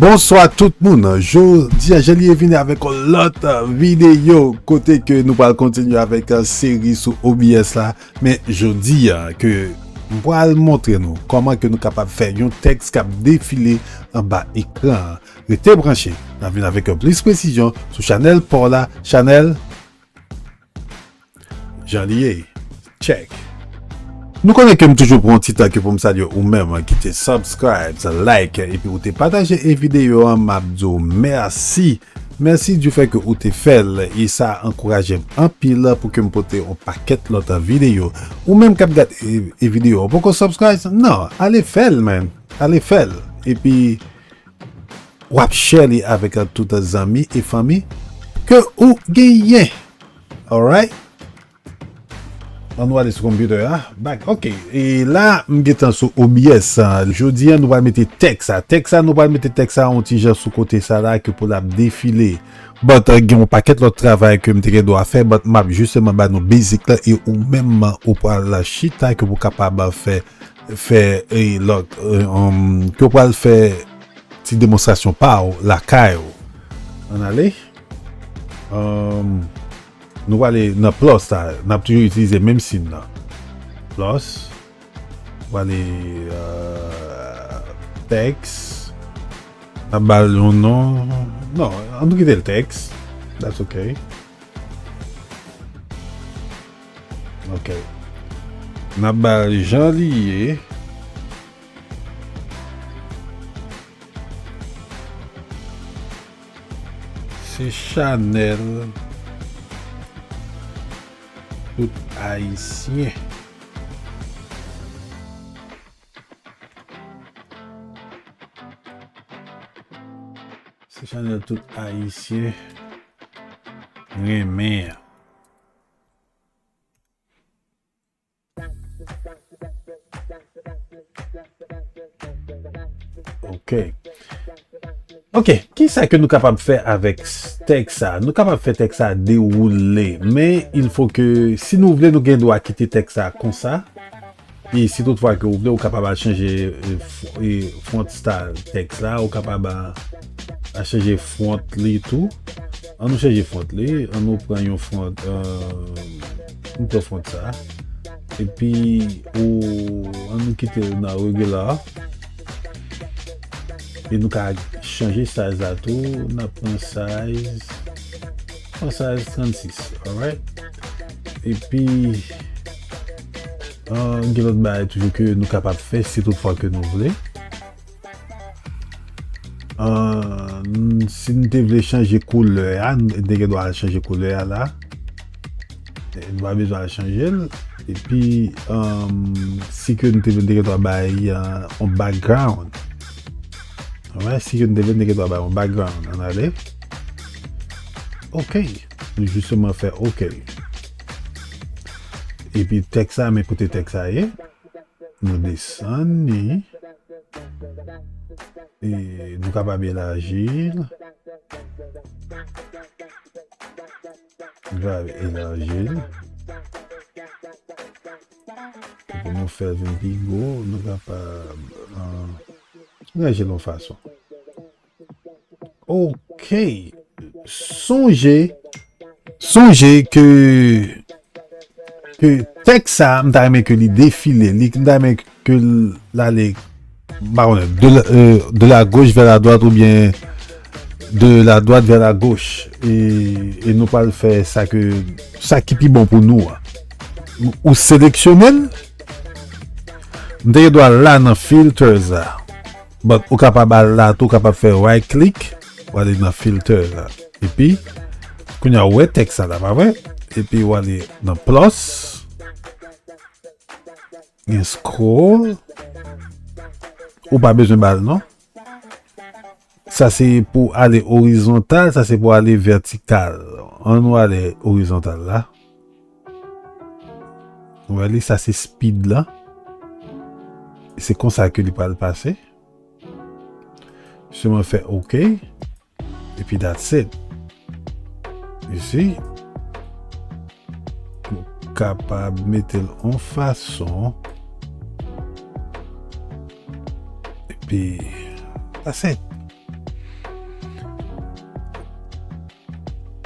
Bonswa tout moun, jodi a Jelie vini avèk yon lòt videyo kote ke nou pral kontinye avèk seri sou OBS la men jodi a ke mpral montre nou kòman ke nou kapab fè yon tèks kap defile anba ekran Rete branche, nap vin avèk yon plis presizyon sou chanèl paw la chanèl Jan li ye Check. Nou konnen kem toujou pran yon ti tan ke poum salye ou menm ki te subscribes, like epi ou te pataje e video an map diw mèsi mèsi du fè ke ou te fèl e sa ankourajem anpil pou kem pote yon pakèt lòt video ou menm kap gad e video ou poko subscribes nan ale fèl man ale fèl epi Wap share li avek tout zanmi e fanmi ke ou genyen alright. An nou ale sou computer a back ok e la m gentan sou home yes jodi an nou pral mete teks sa teks sa nou pral mete teks sa yon ti jan sou kote sa la ke pou l ap defile but gen yon paket lot travay ke m te gen dwa fè but m ap jisteman ba nou basic la e ou menm ou pral chita ke pou kapab fè fè lòt ke w pral fè ti demonstrasyon pa w lakay ou an ale nou wale nan plos la n ap toujou itilize menm sin nan plos wale teks n ap bal yon non non an nou kite l teks that's ok Ok. Nap bal jan li ye. Se chanel tout ayisyen. Se chanel tout ayisyen renmen an. Ok. Ok, ki sa ke nou kapab fè avèk tèk sa? Nou kapab fè tèk sa dewoule, men il fò ke si nou vle nou gen dwa kite tèk sa konsa. E si tout fwa ke ou vle, ou kapab al chanje font style tèks la, ou kapab al chanje font li tou. An nou chanje font li, an nou pran yon font, nou pran font sa. E pi, an nou kite nan regular. E nou ka chanje size la tou, nan pran size, pran size 36, alright. E pi... Gen lòt bagay toujou ke nou kapab fè si tout fwa ke nou vle. Si nou te vle chanje koulè a, nou te gen do a chanje koulè a la. Nou pa bezwen al chanje l. E pi, si ke nou te vle, nou te gen do a bay yon background. Si ke nou te vle, nou te gen do a bay yon background. An ale. Ok. Nou jisteman fè ok li. Epi tèks sa men kote tèks sa ye. Nou desann ni. E nou kapab elaji l. Nou kapab elaji l. Epi nou fè vin pi gwo. Nou kapab elaji l yon fason. Ok. Sonje, sonje ke, ke tek sa, m ta remen ke li defile, li m ta remen ke l ale, ba wè, de la, euh, de la goch vè la dwat ou byen, de la dwat vè la goch, e, e nou pral fè sa ke, sa ki pi bon pou nou a. Ou seleksyonel, m te gen dwa la nan filters la. But ou kapab al la tou kapab fè right click wale nan filter la epi kounya ou wè tèks sa la pa vre epi wale nan plus gen scroll ou pa bezwen bal non sa se pou ale orizontal sa se pou ale vertikal an nou ale orizontal la. Wè li sa se speed la. Se konsa ke li pral pase. Se mwen fè ok. E pi that's it. You see? Ou kapab mete l an fason. E pi that's it.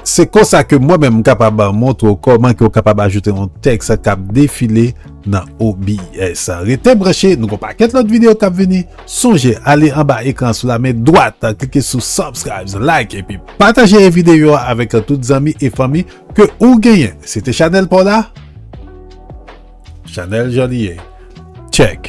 Se konsa ke mwen menm m kapab montre w kòman ke w kapab ajoute yon tèks k ap defile nan OBS. Rete branche, nou gen yon pakèt lòt videyo k ap vini. Sonje ale anba ekran an sou la men dwat, klike sou Subscribes, Like epi pataje videyo a avèk tout zanmi e fanmi ke ou genyen. Se te chanèl pa w la, Chanèl Joliet. Tchèk!